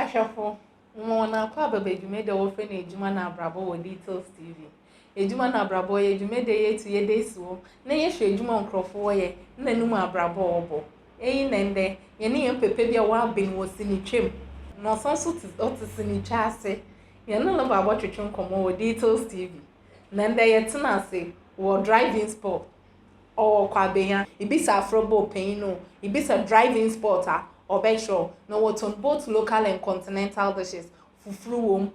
Ahwɛfo, Mema wɔn akɔ aba ba dwumadi a wɔfrɛ no Adwuma na Abrabɔ wɔ Details TV. Adwuma na Abrabɔ yɛ dwumadi a yɛtu yɛda asi hɔ na yɛhwɛ adwuma a nkurɔfo wɔyɛ ne anum abrabɔ a wɔbɔ. Eyi na ɛnnɛ yɛne yɛn papa bi a waben wɔ sinitwam na ɔsan nso te ɔte sinitwa ase. Yɛne no ba abɔtwetwe nkɔmmɔ wɔ Details TV. Na ɛnnɛ yɛtena ase wɔ Drive-In Spot Ɔwɔ kwabenya, ibisa afrɔbo panyin no, ibisa drive-in spot a, ɔbɛkyerɛ wo. Na wɔtɔn both local and continental dishes, fufuo wom,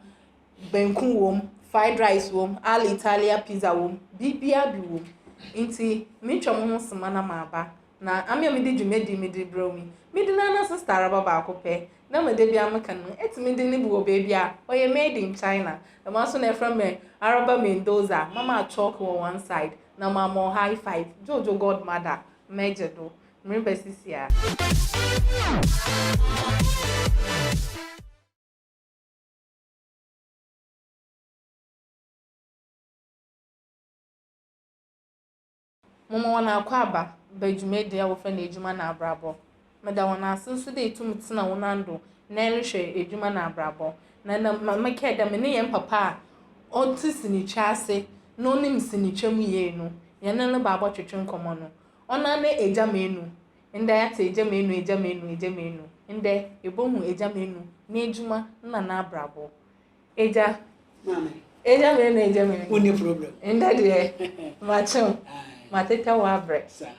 banku wom, fried rice wom, al Italia pizza wom, biribiara bi wom. Nti metwa mo ho soma na maba. Na ame a mede dwumadie mede rebrɛ wo yi, mede no ara sista araba baako pɛ na me da biara meka no, ɛtumi de no bi wɔ baabi a, ɔyɛ made in China. Dɛm ara nso na ɛfrɛ me araba Mendoza, mama chalk wɔ one side, na mama wo high five Jojo god mother mɛgye do mereba sisiaa. Moma wɔn akɔ aba ba dwumadie a wɔfrɛ no adwuma na abrabɔ. Meda hɔn ase so dɛ itum tsena wo nan do na erohwɛ edwuma na abrabɔ. Na nna ma mekɛɛ dɛ menye hɛn papa a ɔtse sinitwa ase na onyim sinitwa mu yie no, yɛnye no baa bɔtwetwe nkɔmbɔ no. Ɔnoara nye Egya Manu. Ndɛ yɛatse Egya Manu, Egya Manu, Egya Manu. Ndɛ yebohu Egya Manu n'edwuma na n'abrabɔ. Agya. Maame. Agya mene na agya mene. Wonni problem. Ndɛ deɛ, makyew. Matetɛ wo abrɛ. Saa.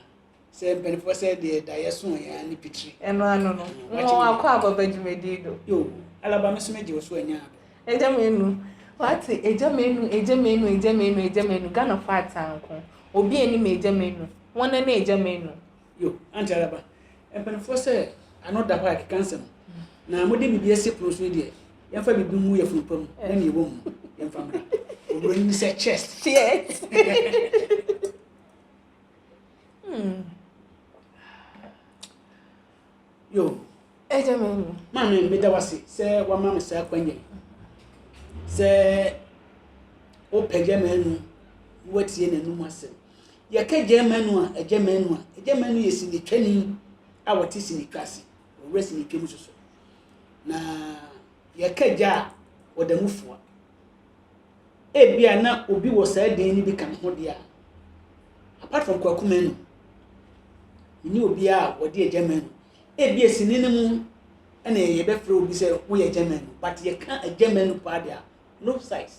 Sɛ mpanimfoɔ sɛ deɛ da yɛ so yɛn ne pitiri. Ɛno ano no. Mma wakɔ ababa dwumadie do. Yoo, Alaba me nso megye wo so anya abɛ. Agya menu. Wate, agya menu, agya menu, agya menu, agya menu, Ghanafoɔ ataa nko. Obi a anim agya menu. Wɔn ne agya menu. Yo, Aunty Araba, mpanimfoɔ sɛ ano da hɔ a ɛkeka nsɛm. Na mode biribi asi pono so yi deɛ, yɛmfa biribi ngu yafunu pa mu na nea ɛwɔ mu no, yɛmfa mmra. Oburoni no sɛ chest. Chest. hmm. Yo. Ɛgya me mu. Maame, meda wo ase sɛ wama me saa kwanya yi. Sɛ wopɛgya m'anu na woatie n'anum asɛm. Yɛka Gyɛɛmanu a, Agyɛmanu a. Agyɛmanu yɛ sinitwani a wɔte sinitwa ase, wɔwura sinitwa mu soso. Na yɛka gya a, wɔda mu foa. Ebia na obi wɔ saa din no bi ka ne ho deɛ a, apart from Kwaku Manu, ne obiara a wɔde Agyɛmanu. Ebia sini no mu ɛna yɛbɛfrɛ obi sɛ woyɛ Agyɛmanu, but yɛka Agyɛmanu paa deɛ a, no size.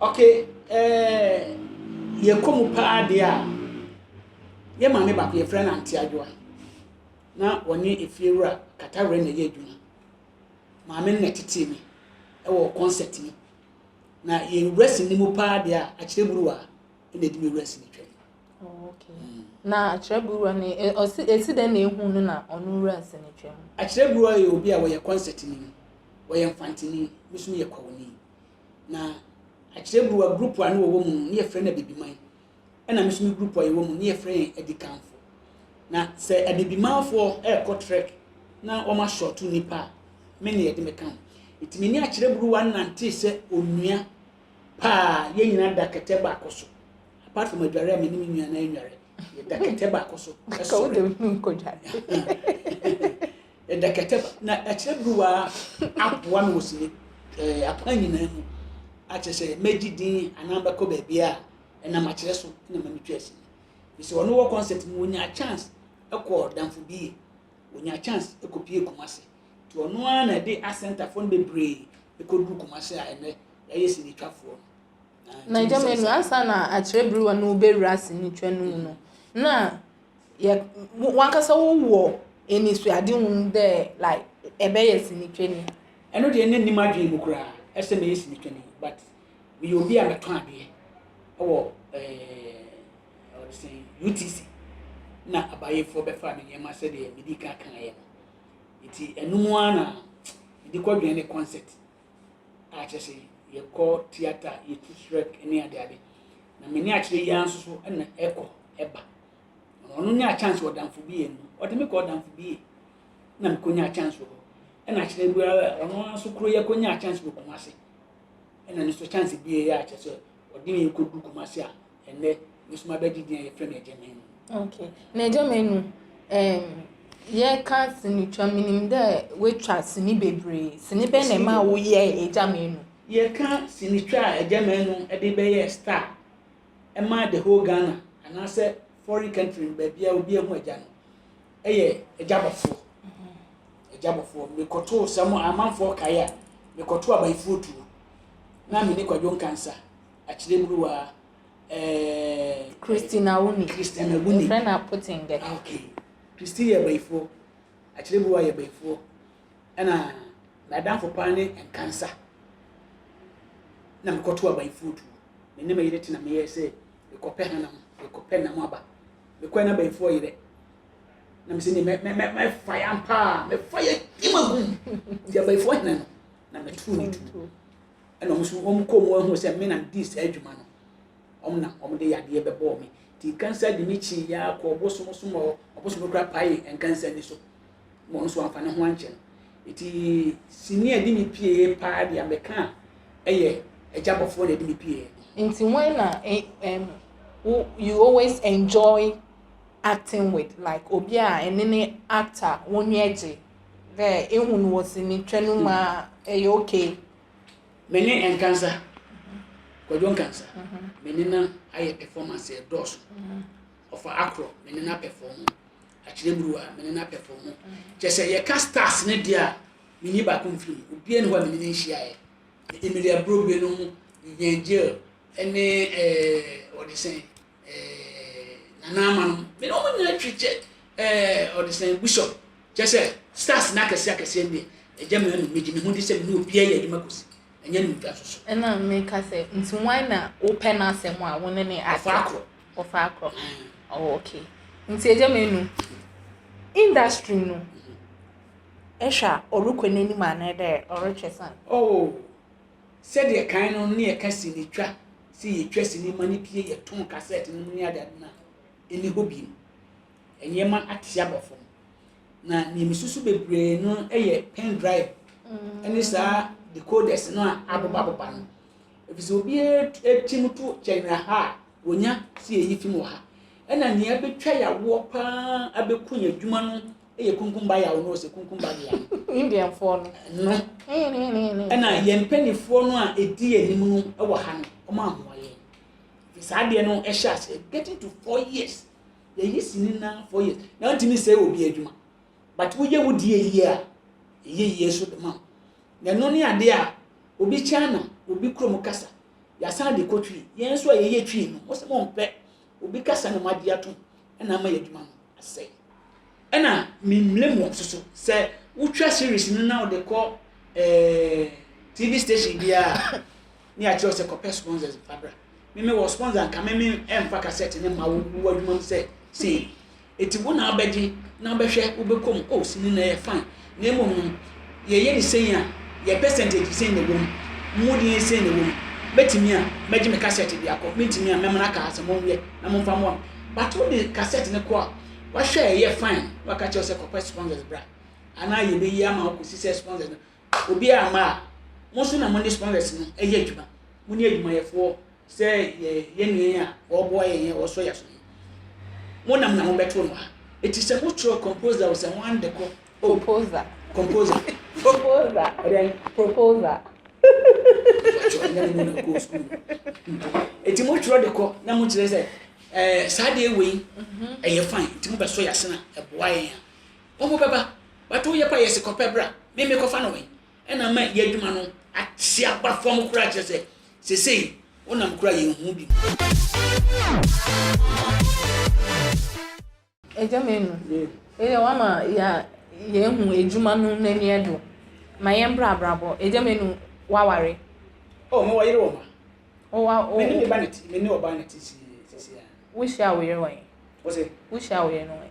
Ok eh yɛkɔ mu paa deɛ a, yɛ maame baako yɛfrɛ no Auntie Adwoa na ɔne efiewura Katawrɛ na ɛyɛ adwuma. Maame no na ɛtetee me ɛwɔ concert mu. Na yɛ wura sini mu paa deɛ a, akyerɛ buruwa na ɛdi me wura sini twam. Oh, ok. Mm. Na akyerɛ buruwa no, ɛsi dɛn na ehu no na ɔno wura sini twam? Akyerɛ buruwa yɛ obi a wɔyɛ concert ni, wɔyɛ mfantini, nso yɛ kwawuni. na akyerɛburuwa grupu a ne wɔwɔ mu no, ne yɛfrɛ no Abibiman, ɛna me nso me grupu a yɛwɔ mu no, ne yɛfrɛ yɛn Adikanfo. Na sɛ Abibimanfoɔ ɛrekɔ trɛk na wɔn ashɔto nnipa a, me ne yɛde me ka ho. Nti me ne akyerɛburuwa nantee sɛ onua paa, yɛn nyinaa da kɛtɛ baako so. Apart from adware a me ne me nua no anware, yɛda kɛtɛ baako so. Ka wo sɔre. dɛm no nkɔdware. Ɛda kɛtɛ ba. Na ɛkyerɛ beruwa aboa me wɔ sini ɛɛ akwan nyinaa mu. Akyerɛ sɛ mɛgye din anaa mɛkɔ baabi a ɛnam akyerɛ so na ma metwa asi. Bisɛ ɔno wɔ concert mu ɔnyaa chance ɛkɔ damfo bi yɛ. Ɔnyaa chance ɛkɔ pie Kumasi. Nti ɔno ara na ɛde asɛntafoɔ no bebree ɛkɔduru Kumasi a ɛnɛ yɛayɛ sinitwafoɔ no. Na gya mmienu ansa na akyerɛ berewa no rebɛwura asɛnnitwa no mu no, na yɛ wankasa wowɔ anisoadehu dɛ like ɛbɛyɛ sɛnnitwani. Ɛno deɛ na nni m'adwene mu koraa ɛsɛ mɛyɛ sɛnnitwani but meyɛ obi a mɛtɔn adeɛ ɛwɔ ɛɛ ɔde sɛn UTC na abayefoɔ bɛfa me nneɛma sɛdeɛ medi kan kaeɛ no nti ɛno mu ara na mede kɔdwene ne concert a kyerɛ sɛ yɛkɔ theatre, yɛtu srɛk ne ade ade. Na me ne akyerɛ yi ara nso so na ɛkɔ ɛba. Ɔno nyaa chance wɔ damfo bi yɛ no. Ɔde me kɔɔ damfo bi yɛ na mekɔnyaa chance wɔ hɔ. Ɛna akyerɛ bi ara ɔno ara nso koro yɛ kɔnyaa chance wɔ Kumase. Ɛna ne nso chance bi yɛ a kyerɛ sɛ ɔde yɛn kɔdu Kumase a ɛnnɛ me nso mabɛgye din a yɛfrɛ no agyama anu. Okay. Na agyama anu, um, yɛka sini twa menim dɛ woatwa sini bebree. Sini bɛn na ɛma woyɛ agyama anu? Yɛka sini twa a agyama anu de bɛyɛ star ɛma the whole Ghana anaasɛ foreign country no baabi a obi ahu agya no ɛyɛ agyabɔfoɔ. Agyabɔfoɔ mm-hmm. mekɔtoo sɛ mo amanfoɔ kae a mekɔtoo abayifoɔ tuo na me ne kwadwo nkansa akyerɛ mmuruwa eh, Christine Awuni. Christine Awuni. Yɛfrɛ no Apotengɛ. Ah, okay. Christine yɛ bayifoɔ. Akyerɛ mmuruwa yɛ bayifoɔ. Ɛna m'adamfo paa ne nkansa. Na mekɔto abayifoɔ tuo. Me ne me yere tena meyɛ sɛ mekɔpɛ hanam, mekɔpɛ nam aba. Mekɔɛ na abayifoɔ yerɛ. Na mesɛ ne mɛfa ya mpaa, mɛfa ya gyima gum. Nti abayifoɔ hena no, na mɛto ne tuo. ɛna wɔn nso wɔn kɔn mu ahunu sɛ me na medi saa dwuma no wɔn na wɔn de yadeɛ bɛbɔɔ me ti kansa de me kyi ya kɔ ɔbosom so ma ɔbosom kura pae nkansa ni so wɔn nso wɔn afa ne ho ankyɛn eti sini a ɛde me pie paa deɛ mɛka a ɛyɛ ɛgya bɔfoɔ na ɛde me pie. nti wɔn na ɛm wo you always enjoy acting with like obi a ɛne ne actor wɔn ani gye. Dɛ ehu no wɔ sini twa no mu a, ɛyɛ okay. Me ne Nkansah, Kwadwo Nkansah, me ne no ayɛ performance a ɛdɔɔso. Ɔfa Akorɔ, me ne no apɛfɔɔmo. Akyerɛburuwa, me ne no apɛfɔɔmo. Kyerɛ sɛ, yɛka stars no deɛ a, menni baako mfiri mu. Obiara nni hɔ a me ne no nhyiaeɛ. Emily Aburobue no ho, Vivian Jill ne ɛɛɛ wɔde sɛn? eh, nana ama no me na wɔn nyinaa twi kyɛ eh, ɔde sɛn bishop kyɛ sɛ stars na akɛse akɛse ɛndeɛ ɛgya mi anum megye me ho di sɛ me ne obiara yɛ adwuma kɔsi ɛnyɛ ne ntwa soso. ɛna meka sɛ nti wan na wopɛ no asɛm a wo ne ne ɔfa akorɔ ɔfa akorɔ oh, ok nti ɛgya mi anum industry no ɛhwɛ a ɔrekɔ n'anim anaa dɛ ɔretwɛ san. oh. Sɛdeɛ kan no ne yɛka sini twa sɛ yɛtwa sini ma no pie yɛtɔn kasɛt nom ne adeade no a, ɛnni hɔ bio. Nneɛma ate aba fam. Na deɛ mesusu bebree no yɛ pen drive ne saa decoders no a abobabobba no. Ɛfiri sɛ obiara tim to kyɛnwera ha a wɔnya sɛ yɛyi fim wɔ ha. Ɛna nea abɛtwa yɛawoɔ paa abɛku yɛn adwuma no yɛ kunkumba yaw no ɔsɛ kunkumba dea no indianfoɔ no no ɛna yɛn mpanimfoɔ no a ɛdi anim no wɔ ha no ɔma ahoa yɛn fi saa adeɛ no ɛhyɛ ase getting to four years yɛyi sini na four years na ntumi sɛ obi adwuma but woyɛ wo die yie a ɛyɛ yie so ma na ɛno ne adeɛ a obi china obi kurom kasa yɛasan de kɔ twi yɛn nso a yɛyɛ twi no wɔsɛ mo mpɛ Obi kasa na wɔagye atom na ama yɛn adwuma no asɛe. Ɛna memblame wɔn nso so. Sɛ wotwa series no na wode kɔ eh, TV station biara a, ne yɛakyerɛ wo sɛ kɔpɛ sponsors fa bra. Me mewɔ sponsor nka me me ɛmfa cassette ne ma wo wo adwuma no sɛ sei. Enti wo na wobɛgye na wobɛhwɛ wobɛkɔ mu oh sini na ɛyɛ fine na mmom no yɛyɛ ne sɛn a yɛ percentage sɛn na ɛwɔ mu mu deɛ sɛn na ɛwɔ mu mɛtumi a mɛgye me cassette de akɔ mentumi a mɛmana kaa sɛ monwɛ na momfa mmoa m but wode cassette ne kɔ a wahwɛ ɛyɛ fine na waka kyerɛ sɛ kɔpɛ sponsors bra anaa yɛbɛyi ama wokɔsi sɛ sponsors no Obi amma a, mo nso na mo ne scholars no yɛ adwuma. Mo ne adwumayɛfoɔ sɛ yɛn nua yi a ɔreboa yɛn yi a ɔresɔ yɛn aso yi. Mo nam na mo bɛto no a. Eti sɛ mo twerɛ composer o sɛ mo ande kɔ o. Composer. Composer. Proposer. Ɛdɛn? Proposer. Mpakyɛ ɛnyɛ ne mu na ɔkɔɔ sukuu. Eti mo twerɛ de kɔ na mo kyerɛ sɛ ɛɛ saa deɛ wei mhm. ɛyɛ fine nti mo bɛsɔ yɛn asena ɛboa yɛn a. Wɔn bɛba, but wo yɛ kɔ yɛ se kɔ pɛ bra, me me kɔ fa no wɛn, ɛna ama yɛ adwuma no ate aba fam kura kyerɛ sɛ sesei wo nam kura yɛn hu bi Agya Manu, ɛyɛ wama yɛ yɛn hu adwuma no n'ani ɛdo, ma yɛn bra abrabɔ, Agya Manu waware. Oh, me wɔ yere wɔ ma. Oh, wa, oh. Me ne me ba ne ti, me ne ɔba ne ti si, sisi ya. Wo hyia wo yere wɛn? Wo se? Wo hyia wo yere no wɛn?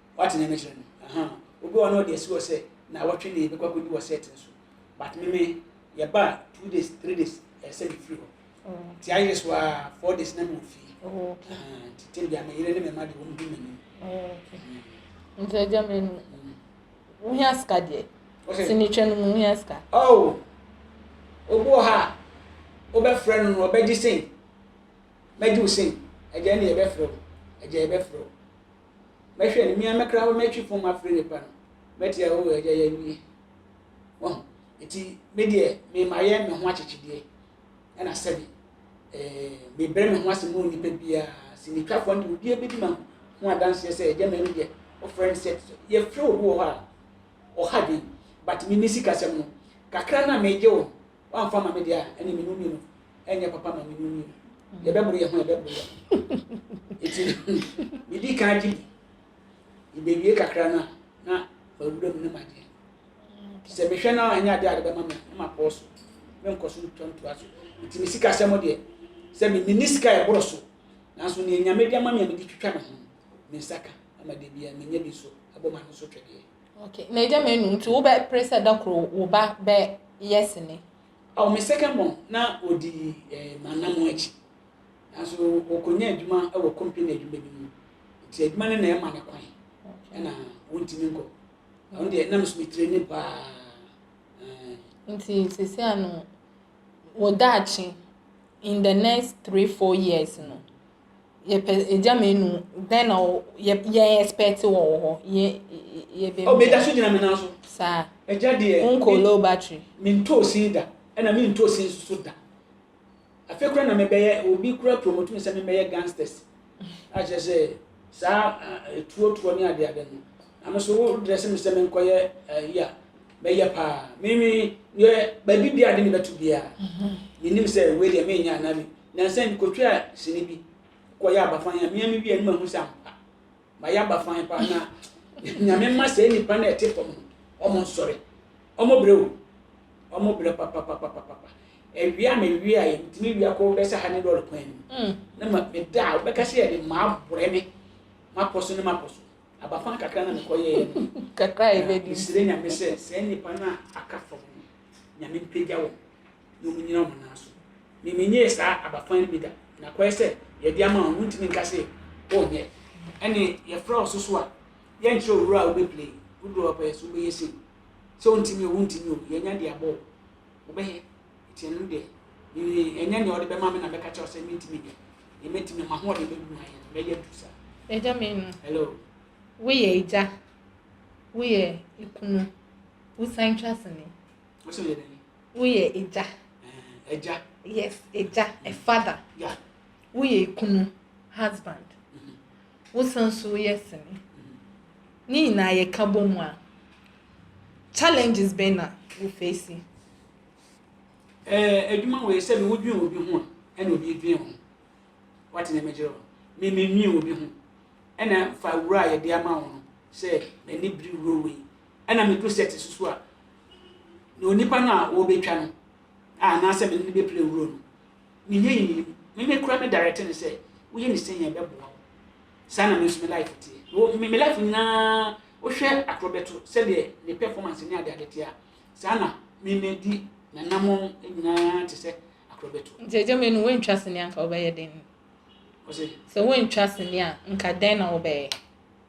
Wate nea mekyerɛ no? Ahaa. Obi wɔ hɔ na ɔde asi hɔ sɛ naawɔtwe ni yɛbɛkɔ akɔdi wɔ set no so. But me me, yɛba a, two days, three days, ɛsɛ sɛ mefiri hɔ. Nti ayere so ara, four days na mewɔ fie. Ahaa. Nti tem bia me yere ne me mma de wɔn di m'anim. Nti agya me no, wohia sika deɛ. Sɛ metwa no mu, wohia sika. Oh! Obi wɔ hɔ a, wobɛfrɛ no no, ɔbɛgye sei. Mɛgye wo sei. Agya ne yɛbɛfrɛ wo. Agya yɛbɛfrɛ wo. Mɛhwɛ no, me ara mɛkra hɔ, mɛtwe pon mu afrɛ nnipa no, mɛte a, Oo, Agya, yɛawie. Wahu? Enti me deɛ, me mayɛ me ho akyekyedeɛ, ɛna sɛbe, eh, mebrɛ me ho ase ma onipa biara, sinitwafoɔ no deɛ, obiara bɛdi ma ho adanseɛ sɛ, Agya, mɛno deɛ, wɔfrɛ no sɛ, yɛfrɛ obi wɔ hɔ a, ɔha dwen, but me, me sikasɛm no, kakra no a megye wo no, Woamfa ma me deɛ a, ɛne menu mmienu. Ɛnyɛ papa ma menu mmienu. Yɛbɛboro yɛn ho, yɛbɛboro yɛn ho. Eti medi kan gye bi. Yɛbɛwie kakra no a, na mawura mu ne madeɛ. Sɛ mehwɛ no a, ɛnyɛ adeɛ a de bɛma me na mapɔɔ so. Menkɔ so ntwa ntoa so. Eti me sikasɛm deɛ, sɛ me menni sika a ɛboro so. Nanso nea Nyame de ama me a mede twitwa me ho no, me nsa ka. Ama da biara menya bi nso abɔ m'ano so twɛdeɛ. Ok na agya manu nti wo bɛ pere sɛ da koro wo ba bɛ yɛ sini. Ɔwɔ me second born na ɔdi eh m'anamon akyi nanso ɔkɔ nya adwuma wɔ company adwuma bi mu nti adwuma no na ɛma no kwan ɛna ɔntumi nkɔ na ɔno deɛ na me so me training paa eh. Nti sɛsɛ ano wo daakye in the next three four years no yɛpɛ egya mmienu dɛn na ɔ yɛ yɛ expect wɔ wɔ hɔ yɛ yɛ bɛ. ɔbɛ da so gyina mi nan so. saa ɛgya deɛ. nko low battery. mi ntɔ osin da ɛna mi ntɔ osin nso so da afei kura na mi bɛ yɛ obi kura promote mi sɛ mi bɛ yɛ gangsters akyerɛ sɛ saa etuo tuo ne ade ade no na mi so wo dress mi sɛ mi nkɔ yɛ ɛyi a bɛ yɛ paa mi mi yɛ baabi bia de mi bɛ to bia mi nim sɛ wei deɛ mi nya na mi Nnansa yi mekɔtwaa sini bi kɔyɛ abafan a meame wie no mahu sɛ ampa mayɛ abafan paa na nyame mma saa nnipa no a ɛte fam no ɔmo nsɔre ɔmo brɛ o ɔmo brɛ papapapapapa awie a mewie a yɛntumi wie akɔ bɛsɛ ha ne lɔre kwan no mu mm. na ma meda a wobɛka sɛ yɛde maa borɛ me mapɔ so ne mapɔ so abafan kakra na mekɔyɛɛ no kakra yɛbɛdi mesrɛ nyame sɛ saa nnipa no a aka fam no nyame mpagya wɔn na wɔnnyina wɔn nan so. Me, mennyɛɛ saa abakwan no bi da. Nakɔɛ sɛ, yɛde ama wo, wontumi nka se wonyɛ. Ɛne, yɛfrɛ wo so so a, yɛnkyerɛ wo wura a wobɛplay, wo deɛ ɔpɛ so wobɛyɛ sei. Sɛ wontumi o, wontumi o, yɛanya de abɔ wo. Wobɛyɛ? Nti ɛno deɛ, me, ɛnyɛ nea wɔde bɛma me na mɛka kyerɛ wo sɛ mentumi nyɛ. Deɛ mɛtumi, m'ahoɔden bɛdu mu ayɛ no, mɛyɛ adu saa. Agya Menu. Hello. Woyɛ agya, woyɛ kunu, wosan twa sini. Wọ́n sọ yẹ dẹ́n? Woyɛ agya. Agya. Yes, agya, a mm. father. Yeah. Woyɛ ekunu, husband. Mm-hmm. Wosan so woyɛ sini. Mm-hmm. Ne nyinaa yɛ ka bɔ mu a, challenges bɛn na wo face? Ɛɛ adwuma wɔ yɛ sɛ mi wodwin obi ho a, ɛna obi dwin ho. Wate ne mɛgyerɛ hɔ. Mi mi nwin obi ho. Ɛna fa wura a yɛde ama wɔn no sɛ m'ani biri wuro wei. Ɛna mi do sɛ ti soso a. na onipa no a ɔrebɛtwa no a anaasɛ mene no bɛpira wuro no, menyɛ yi menim. Me me kora me direct no sɛ woyɛ ne sɛn a ɛbɛboa wo. Saa na me nso me life teɛ. Wo me me life nyinaa wohwɛ atorɔ bɛto sɛdeɛ ne performance ne adeade teɛ a, saa na me me di nanamɔn nyinaa te sɛ atorɔ bɛto. Nti agya menu woantwa sini anka wobɛyɛ den? Ɔse. Sɛ woantwa sini a nka dɛn na wobɛyɛ?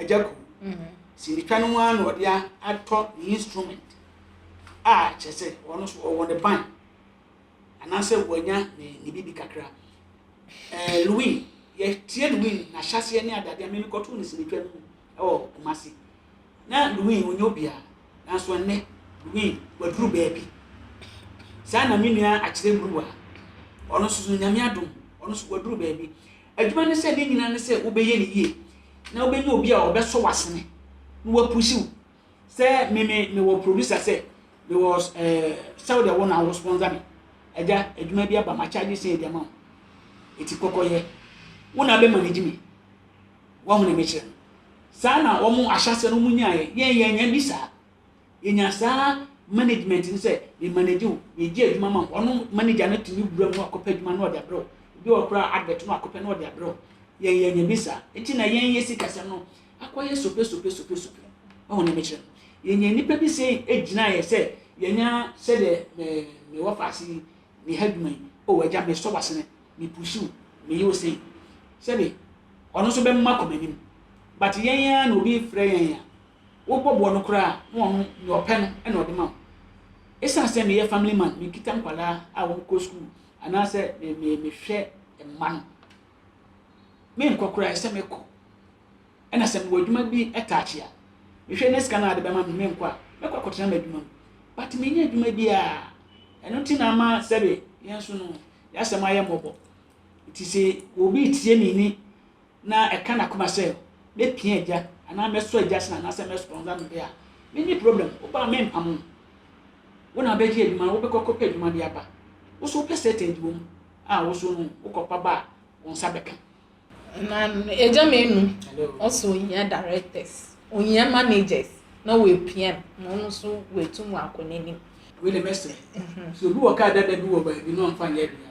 agya kuw sindika no mu ara na ɔde atɔ ne instrument a kyerɛ sɛ ɔno nso ɔwɔ ne ban anaasɛ wanya ne ne biribi kakra ɛɛ louis yɛtie louis n'ahyɛseɛ ne adadeɛ mene kɔtoo ne sinitwa no mu ɛwɔ kumase na louis ɔnyɛ obiara nanso ɛnnɛ louis waduru baabi saa na me nua akyerɛ mmuruwa ɔno nso nyame adom ɔno nso waduru baabi Adwuma no sɛ ne nyinaa ne sɛ wobɛyɛ no yie na wobɛnya obi a ɔbɛsɔ w'asene na wapusi wo sɛ me me mewɔ producer sɛ mewɔ ɛɛ sɛ wode wo na wo sponsor me agya adwuma bi aba ma charge sɛ ɛdi ama wo ɛti kɔkɔyɛ wo na bɛma ne gye me wɔn na mekyerɛ saa na wɔn ahyɛsɛ no mu nyaayɛ yɛn yɛn yɛn bi saa Yenya saa management no sɛ me manage wo, megye adwuma ma wo. Ɔno manager no tumi wura mu na wakɔpɛ adwuma na ɔde abrɛ wo. Ebi wɔ koraa advert na wakɔpɛ na ɔde abrɛ wo. Yɛn yɛnya bi saa. Enti na yɛn yɛ sikasɛm no akɔyɛ sope sope sope sope. Ɔho ne mekyerɛ. Yɛnya nnipa bi sɛ egyinaeɛ sɛ yɛnya sɛdeɛ me me wɔ faase yi me ha adwuma yi. O agya me sɔ wasene me pushi wo me yi wo sei. Sɛbi ɔno nso bɛma kɔ m'anim. But yɛn ara na obi frɛ yɛn a wobɔ boɔ no koraa a na ɔno nea ɔpɛ no na ɔde ma wo. Esiane sɛ meyɛ family man, mekita nkwadaa a wɔkɔ sukuu anaasɛ me me mehwɛ mma no, menkɔ koraa ɛsɛ mekɔ. Ɛna sɛ mewɔ adwuma bi taakye a, mehwɛ ne sika no a de bɛma me menkɔ a, mɛkɔ akɔtena m'adwuma mu. But menyɛ adwuma bi a, ɛno nti na ama sɛbe yɛn nso no, yɛasɛm ayɛ mmɔbɔ. Nti sɛ obi tie me ni na ɛka n'akoma sɛ mɛpia agya anaa mɛsɔ agya sena anaasɛ mɛspɔnsa no de a, menni problem. Wo ba a, mempam wo. Wo na wobɛgye adwuma no, wobɛkɔ akɔpɛ adwuma de aba. Wo nso wopɛ certain de wɔ mu a, wo nso no wokɔpa ba a, wo nsa bɛka. Na agya menu ɔsɛ ohia directors, ohia managers na wɔapia no na ɔno nso watu mu akɔ n'anim. Wei deɛ mɛsrɛ sɛ obi wɔ kaa dada bi wɔ baabi na ɔmfa nyɛ de a,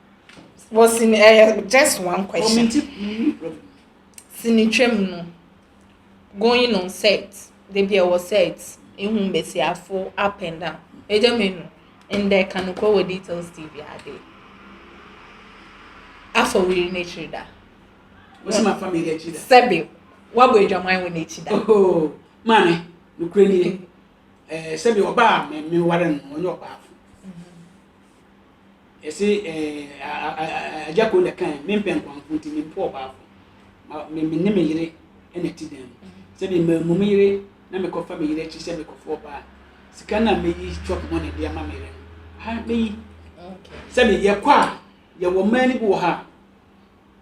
Wɔ sini ɛyɛ eh, just one question. Sini twam no going on set debi ɛwɔ set ehu mbesiafo up and down egya mi no ndɛ kanokɔ wɔ details tv ade afa wiri n'ekyir da. Wosi ma fa mi n'ekyir da. Sɛbi wabɔ edwaman wɔ n'ekyir da. Oho maame nukuri ni ɛɛ sɛbi ɔbaa mɛmi wari no ɔnyɛ ɔbaa fo. Ɛse eh, agya kuro na ɛkae, me mpɛ nkwanfo nti me mpɛ ɔbaafo. Ma me me ne me yere na ti dan mu. Sɛ me ma mu me yere na me kɔfa me yere akyi sɛ me kɔfo ɔbaa. Sika na me yi chop money de ama me yere no, ha me yi. Sɛ me yɛ kɔ a, yɛ wɔ mmaa ni bi wɔ ha.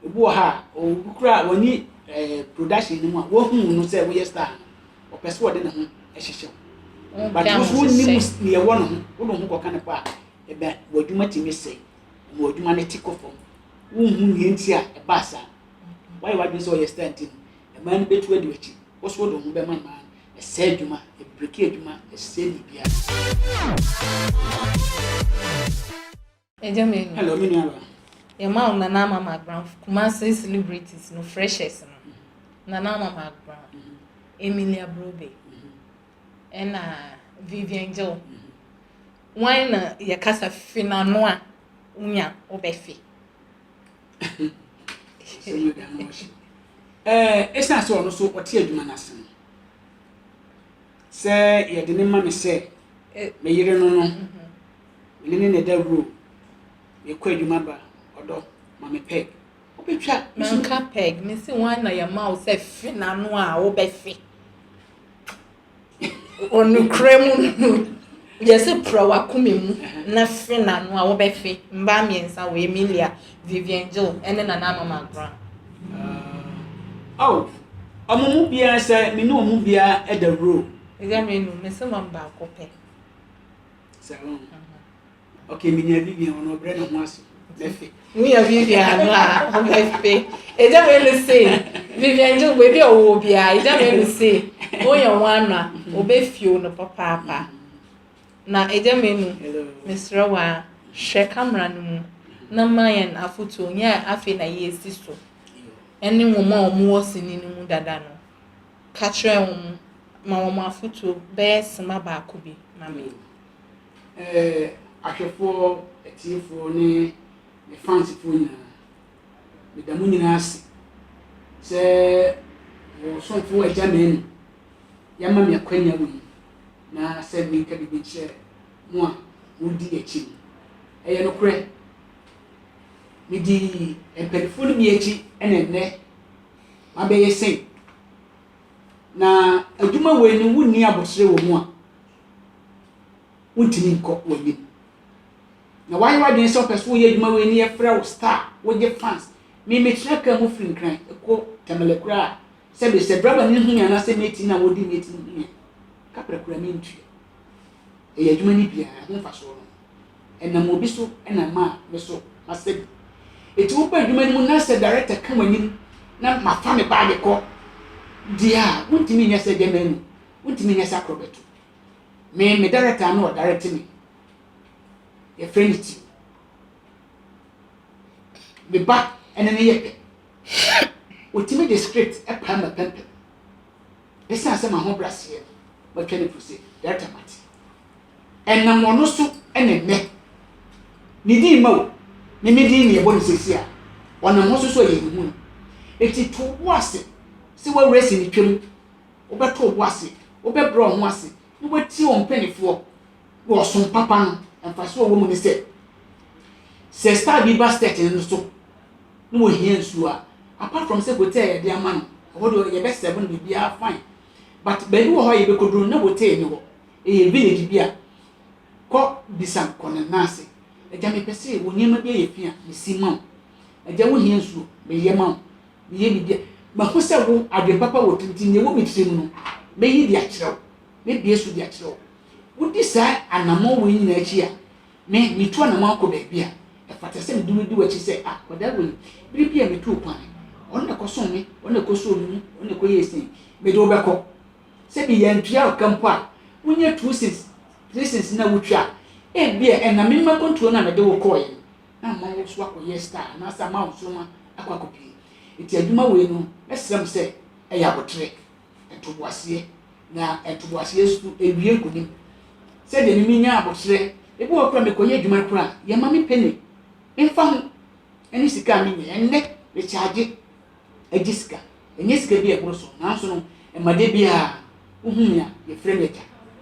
Obi wɔ ha a, obi koraa a wani ɛɛ production no mu a, wahu wo no sɛ woyɛ star no, ɔpɛ sɛ ɔde ne ho hyehyɛ wo. But wo so wonni mu deɛ ɛwɔ ne ho, wode wo ho kɔka ne kɔ a, ɛbɛ w'adwuma tumi sɛe, ɛma w'adwuma no te kɔ fam. Wonhu nea nti a ɛbaa saa. Woayɛ w'adwene sɛ ɔyɛ star nti no, mmaa no bɛtu adi w'akyi. Wo so wode wo ho bɛma mmaa no, ɛsɛe adwuma, ɛbreki adwuma, ɛsɛe biribiara. Agya Manu. Hello, me nua ba. Yɛma wo Nana Ama Magran Kumase celebrities no freshers no. Nana Ama Magran, Emilia Brobe, ɛna Vivian Joe. Wan na yɛkasa fi n'ano a wonya wobɛfe? Ɛsiane sɛ ɔno so ɔte adwuma no ase no, sɛ yɛde ne ma me sɛ me yere no no, Mene ne ne dawuro. Mekɔ adwuma ba. Ɔdɔ, ma me peg. Wobɛtwa me so. Manka peg. Mese wan na yɛma wo sɛ fe n'ano a wobɛfe. Ɔnokorɛ mu no, yɛse pra w'akoma mu na fe n'ano a wobɛfe. Mmaa mmiɛnsa wɔ Emilia, Vivian Jill, ne Nana Ama Margran. Oh, ɔmo mu biara sɛ me ne ɔmo biara dawuro. Ɛdeɛ me no, mese ma me baako pɛ. sɛ wɔn ɔkè menya bi bia wɔn ɔbrɛ na ho aso mɛfe menya bi bia no a mɛfe ɛgya mɛ no se vivian gye baabi a ɔwɔ biara ɛgya mɛ no se woyɛ ho ano a ɔbɛfio no papaapa na ɛgya mɛ nu mesrɛ wo a hwɛ kamera no mu na ma yɛn afotuo nyɛ afei na yɛsi so ɛne nwoma a wɔwɔ sini no mu dada no ka kyerɛɛ hom ma wɔn afotu bɛyɛ sema baako bi ma me. Ɛɛ, ahwɛfoɔ, atiefoɔ ne me fansfoɔ nyinaa, meda mo nyinaa ase sɛ mo somfo Agya Manu yɛama me akwanya wɔ yi na sɛ menka biribi nkyerɛ mo a modi akyi no. Ɛyɛ nokorɛ, medii mpaninfoɔ no bi akyi na ɛnnɛ abɛyɛ sɛn? Na adwuma wei no wonni abɔsrɛ wɔ mu a, wontumi nkɔ w'anim. Na wayɛ w'adwene sɛ ɔpɛ so woyɛ adwuma wei no yɛfrɛ wo star, wogye fans. Me mekyerɛ kaa mu firi nkran kɔ tamale koraa a, sɛbe sɛ driver no hu me anaasɛ mate no a wɔdi mate no hu me a, kaprɛ koraa mentua. Ɛyɛ adwuma no bi a ɛho mfasoɔ no ɛnam obi so na ɛma a me so masa bi. Enti wokɔ adwuma no mu na sɛ director ka w'anim na mafa me baage kɔ deɛ a, wontumi nyɛ sɛ gyama anu, wontumi nyɛ sɛ akorɔbɛto. Me, me director na ɔdirect me. Yɛfrɛ no ti. Me ba ɛne ne yɛ pɛ. Ɔtumi de script pae m'apampam. Esiane sɛ m'ahobrɛaseɛ nti, matwa no puse, Director Mate. Ɛnam ɔno so na nnɛ, ne din mma o, ne me din na yɛbɔ no seesei a ɔnam hɔ so so a yɛnhu no. Enti to wo bo ase sɛ w'awerɛ asi ne twam, wobɛto wo bo ase, wobɛbrɛ wo ho ase, na woatie wo mpanimfoɔ. na ɔsom papa no mfaso a ɔwɔ mu ne sɛ sɛ star bi ba step no so na wɔhia nsuo a apart from sɛ bote a yɛde ama no ɛhɔ deɛ yɛbɛsɛbo no biribiara fine but baabi wɔ hɔ a yɛbɛkɔduru no na bote ne hɔ ɛyɛ village bi a kɔ bisa kɔ ne nan ase agya mepɛ sɛ wɔ nneɛma bi ayɛ fi a mesi ma wo agya wohia nsuo meyɛ ma wo meyɛ biribi a mahu sɛ wo adwen papa wɔ tirinti nea ɛwɔ me tirim no mɛyi de akyerɛ wo mɛbie so de akyerɛ wo Wodi saa anammɔn wei nyinaa akyi a, me, metu anammɔn akɔ baabi a, ɛfata sɛ mede wo di w'akyi sɛ, Ah, akwadaa wei, bere biara a mituu kwan, ɔno na ɛkɔsoo me, ɔno na ɛkɔsoo me mu, ɔno na ɛkɔyɛɛ sei. Mede wo bɛkɔ. Sɛ meyɛ antua wo ka mpo a, wonyɛ two cents, three cents na wutwa a, ebia ɛnam me mma kontuo no a mede wo kɔeɛ no, na ama wo nso akɔyɛ star anaasɛ ama wo nsoromma akɔ akɔpue. Enti adwuma wei no, mɛsrɛ mo sɛ, ɛyɛ abotire. ntoboaseɛ, na ntoboaseɛ so ɛwie nkonim. Sɛdeɛ me menya aboterɛ, ebi wɔ hɔ koraa mekɔyɛ adwuma no koraa yɛmma me penny mfa ho ɛne sika a menya, ɛnnɛ rekyaagye agye sika, ɛnyɛ sika bi a ɛboro so, nanso no ɛma da biara wohu me a yɛfrɛ me agya,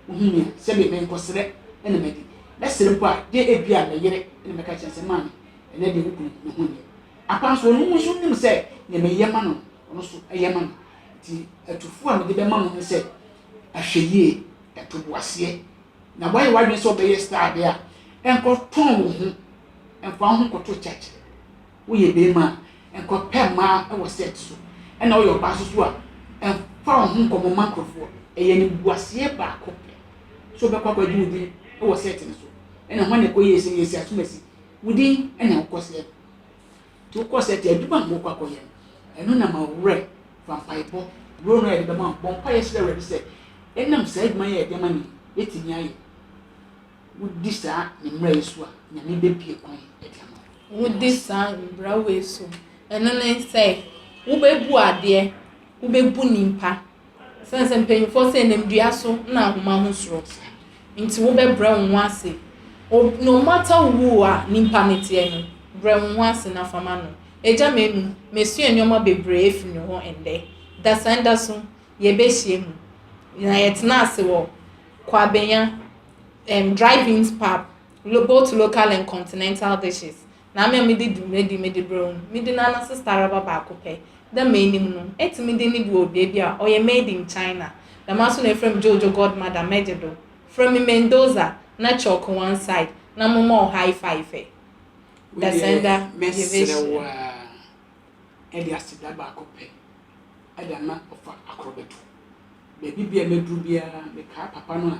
wohu me a sɛdeɛ menkɔsrɛ ɛna madi, mɛsrɛ mpo a gye ebi a meyere ɛna mɛka kyerɛ sɛ maame ɛnɛ deɛ wo kunu ne ho nyɛ apa nso ɔno nso nim sɛ deɛ meyɛ ma no no ɔno nso ɛyɛ ma me. Enti atufo a mede bɛma mo ne sɛ, Ahwɛyie, ɛtoboaseɛ, na woayɛ w'adwene sɛ wobɛyɛ star adeɛ a, nkɔtɔn wo ho, mfa wo ho nkɔto church. Woyɛ barima a, nkɔpɛ mmaa wɔ set so, ɛna woyɛ ɔbaa nso so a, mfa wo ho nkɔmmɔ mma nkurɔfoɔ. Ɛyɛ animguaseɛ baako pɛ sɛ wobɛkɔ akɔgye wo din wɔ set no so, ɛna hwan na ɛkɔyie sɛ yɛsi asomasi? Wo din na wokɔseɛ no. Nti wokɔ saa ti adwuma a mokɔ akɔyɛ no, ɛno na ma wo werɛ. Fa mpaebɔ buro no a yɛde bɛma wo. Bɔ mpaeɛ srɛ Awurade sɛ ɛnam saa adwuma yi a yɛde ama no yi bɛtumi ayɛ. Wodi saa ne mmara yi so a, Nyame bɛbue kwan de ama wo. Wodi saa mmara wei so. Ɛno ne sɛ, wobɛbu adeɛ, wobɛbu nipa. Esiane sɛ mpanyimfoɔ sɛ nam dua so na ahoma ho soro nti wobɛbrɛ wo ho ase. No matter who a nipa no teɛ no, brɛ wo ho ase na fa ma no. Agya Manu, masua nneɛma bebree afiri ne hɔ ɛndɛ. Dasanda so, yɛbɛhyia mu na yɛtena ase wɔ Kwabenya um, drive-ins pub, both local and continental dishes. na me a mede dwumadi mede brɛ wo no, mede no ananse staraba baako pɛ. Dɛ m'enyim no, etse me dɛn bi wɔ beebi a ɔyɛ made in China. Dɛmara so na efrɛ me Jojo Godmother, mɛgye do. Frɛ me Mendoza, na kyɛ ɔkɔ one side, na momma wo high fife. Dasenda Yeveshiya. Mɛserɛ wo ara de aseda baako pɛ de ama ɔfa akorɔbɛto. Baabi biara a mɛduru biara, mekaa papa no a,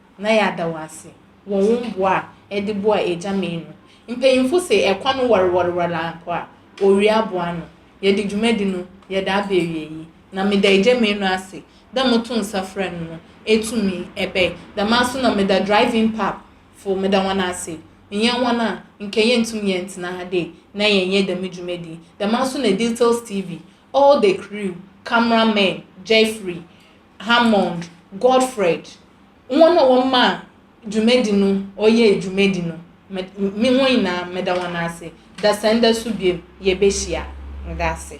na yɛada wo ase wɔ wo mboa a ede boa Agya May no. Mpanyimfo se ɛkɔ no wɔrewɔrewɔre ara mpo a, owia aboa ano. Yɛde dwumadi no yɛde aba awiei, na meda Agya May no ase dɛ moto nsa frɛ no no etumi ɛbɛe. Dɛm ara so na meda Drive-In Pub fo, meda hɔn ase. Nnyɛ hɔn a, nka yenntum yɛntsena ha dei na yɛnnyɛ dɛm dwumadi yi. Dɛm ara so na Details TV, all the crew, camera men, Jeffrey, Hammond, Godfred, hɔn na wɔmaa dwumadzi no ɔyɛɛ dwumadzi no, me hɔn nyina meda hɔn ase, dasanda so bio yebehyia, meda ase.